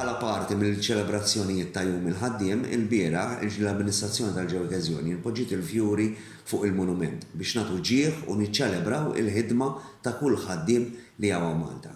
Bħala parti mill-ċelebrazzjonijiet ta' Jum il-Ħaddiem, ilbieraħ, l-amministrazzjoni tal-Ġewwi Każjoni poġġiet il-fjuri fuq il-monument biex nagħtu ġieħ u niċċelebraw il-ħidma ta' kull ħaddiem li hawn Malta.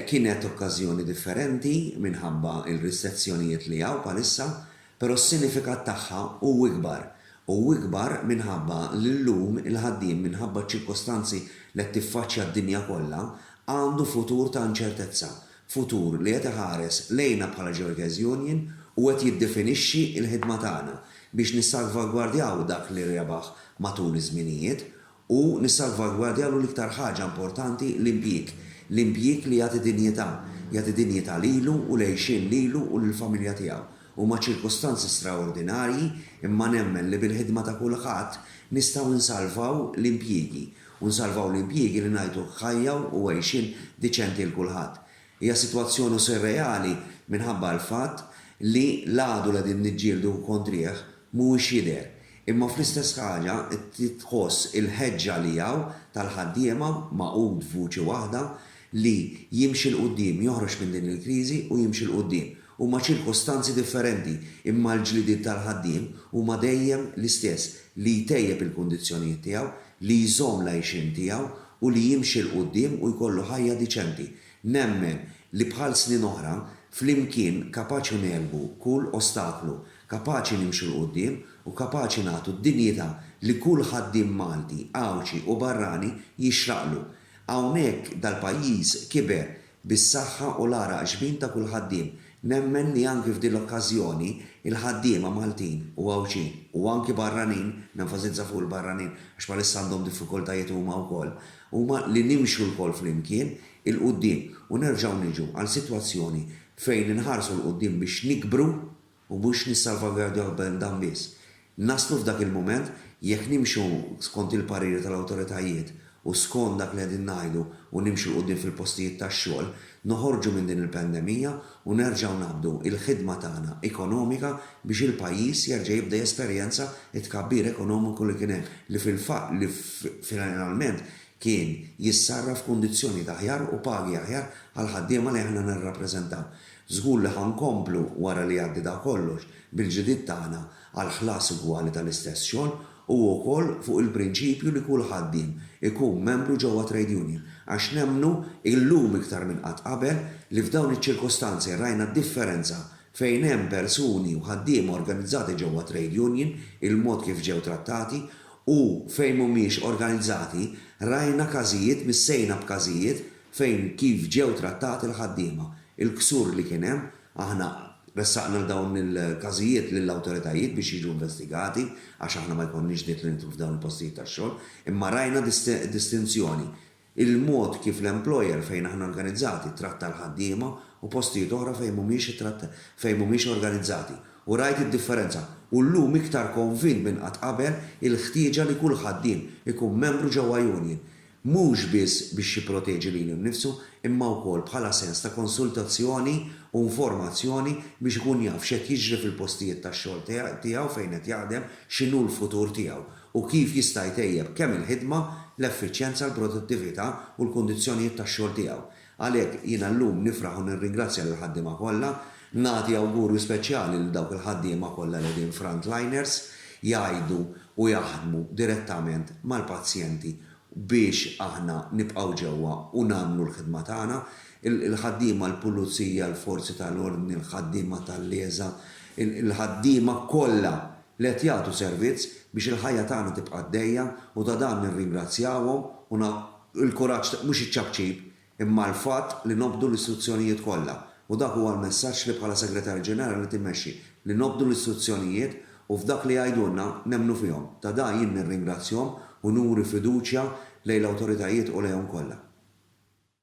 Kienet okkażjoni differenti minħabba l-ristezzjonijiet li hawn bħalissa Però s-sinifikat tagħha hu ikbar. Hu ikbar minħabba li llum il-ħaddiem minħabba ċ-ċirkostanzi li qed tiffaċċja d-dinja kollha, għandu futur ta' inċertezza, futur li qed iħares lejna bħala Ġorgeż Union u qed jiddefinixxi l-ħidma tagħna biex nissalvagwardjaw dak li rebaħ matul iż-żminijiet u nissalvagwardjalu l-iktar ħaġa importanti, l-impjieg. L-impjieg li jagħti dinjità. Jagħti dinjità lilu u l-għixien lilu u lill-familja tiegħu. Huma ċirkustanzi straordinarji imma nemmen li bil-ħidma ta' kulħadd nistgħu nsalvaw l-impjiegi u nsalvaw l-impjiegi li ngħidu ħajja u għixien diċenti 'l kulħadd. Hija sitwazzjonu surreali minħabba l-fatt li l-għadu li qegħdin niġġieldu kontrih mhuwiex jidher, imma fl-istess ħaġa titħoss il-ħeġġa li hawn tal-ħaddiema magħqud f'vuċi waħda li jimxi 'l quddiem, joħroġ minn din il-kriżi u jimxi 'l quddiem. Huma ċirkustanzi differenti, imma l-ġlidiet tal-ħaddiem huma dejjem l-istess, li jtejjeb il-kundizzjonijiet tiegħu, li jżomm l-għixien tiegħu u li jimxi 'l quddiem u jkollu ħajja diċenti. Nemmen li bħal snin oħra, flimkien kapaċi ngħelbu kull ostaklu, kapaċi nimxu 'l quddiem u kapaċi nagħtu d-dinjità li kull ħaddiem Malti, Għawdxi u barrani jixraqlu. Hawnhekk dal-pajjiż kiber bis-saħħa u l-għaraq xbin ta' kull ħaddiem. Nemmen li anki f'din l-okkażjoni, il-ħaddiema Maltin u Għawdxin, u anki barranin, nenfasizza fuq il-barranin għax bħalissa għandhom diffikultajiet huma wkoll, huma li nimxu lkoll flimkien 'il quddiem u nerġgħu niġu għal sitwazzjoni fejn inħarsu 'l quddiem biex nikbru, U mhux nissalvagwardjaw b'dan biss. Naslu f'dak il-mument, jekk nimxu skont il-pariri tal-awtoritajiet u skont dak li qegħdin ngħidu u nimxu 'l quddiem fil-postijiet tax-xogħol, noħorġu minn din il-pandemija u nerġgħu nabdu il-ħidma tagħna ekonomika biex il-pajjiż jerġa' jibda jesperjenza t-tkabbir ekonomiku li kien hemm li fil-fatt li finalment kien jissarraf f'kundizzjonijiet aħjar u pagi aħjar għall-ħaddiema li aħna nirrappreżentaw. Żgur li ħa nkomplu, wara li jgħaddi da kollox, bil-ġlidiet tagħna għal ħlas ugwali tal-istess xogħol u wkoll fuq il-prinċipju li kull ħaddiem ikun membru ġewwa trade union għax nemmnu, illum iktar minn qatt qabel, li f'dawn iċ-ċirkustanzi rajna d-differenza fejn hemm persuni u ħaddiema organizzati ġewwa trade union, il-mod kif ġew trattati, u fejn mhumiex organizzati, rajna każijiet, missejna b'każijiet, fejn kif ġew trattati l-ħaddiema, il-ksur li kien hemm, aħna ressaqna dawn il-każijiet lill-awtoritajiet biex jiġu investigati għax aħna ma jkollniex dritt li nidħlu f'dawn il-postijiet tax-xogħol, imma rajna distinzjoni, il-mod kif l-employer fejn aħna organizzati tratta l-ħaddiema u postijiet oħra fejn mhumiex fejn mhumiex organizzati u rajt id-differenza u llum iktar konvint minn qatt qabel il-ħtieġa li kull ħaddiem ikun membru ġewwa union mhux biss biex jipproteġi lilu nnifsu imma wkoll bħala sens ta' konsultazzjoni u informazzjoni biex ikun jaf x'qed jiġri fil-postijiet tax-xogħol tiegħu fejn qed jaħdem, x'inhu l-futur tiegħu u kif jista' jtejjeb kemm il-ħidma, l-effiċjenza, l-produttività u l-kundizzjonijiet tax-xogħol tiegħu. Għalhekk, jiena llum nifraħ u nirringrazzja lill-ħaddiema kollha, nagħti awgurju speċjali lil dawk il-ħaddiema kollha li qegħdin frontliners, jgħidu u jaħdmu direttament mal-pazjenti biex aħna nibqgħu ġewwa u nagħmlu l-ħidma tagħna, il-ħaddiema, l-pulizija, l-forzi tal-ordni, il-ħaddiema tal-LESA, il-ħaddiema kollha li qed jagħtu servizz biex il-ħajja tagħna tibqa' għaddejja u ta' dan nirringrazzjawhom u Il-kuraġġ mhux iċ-ċapċip, imma l-fatt li nobdu l-istruzzjonijiet kollha. U dak huwa l-messaġġ li bħala Segretarju Ġenerali timmexxi, li nobdu l-istruzzjonijiet u f'dak li jgħidulna nemmnu fihom. Ta' da jien nirringrazzjhom u nuri fiduċja lejn l-awtoritajiet u lejhom kollha.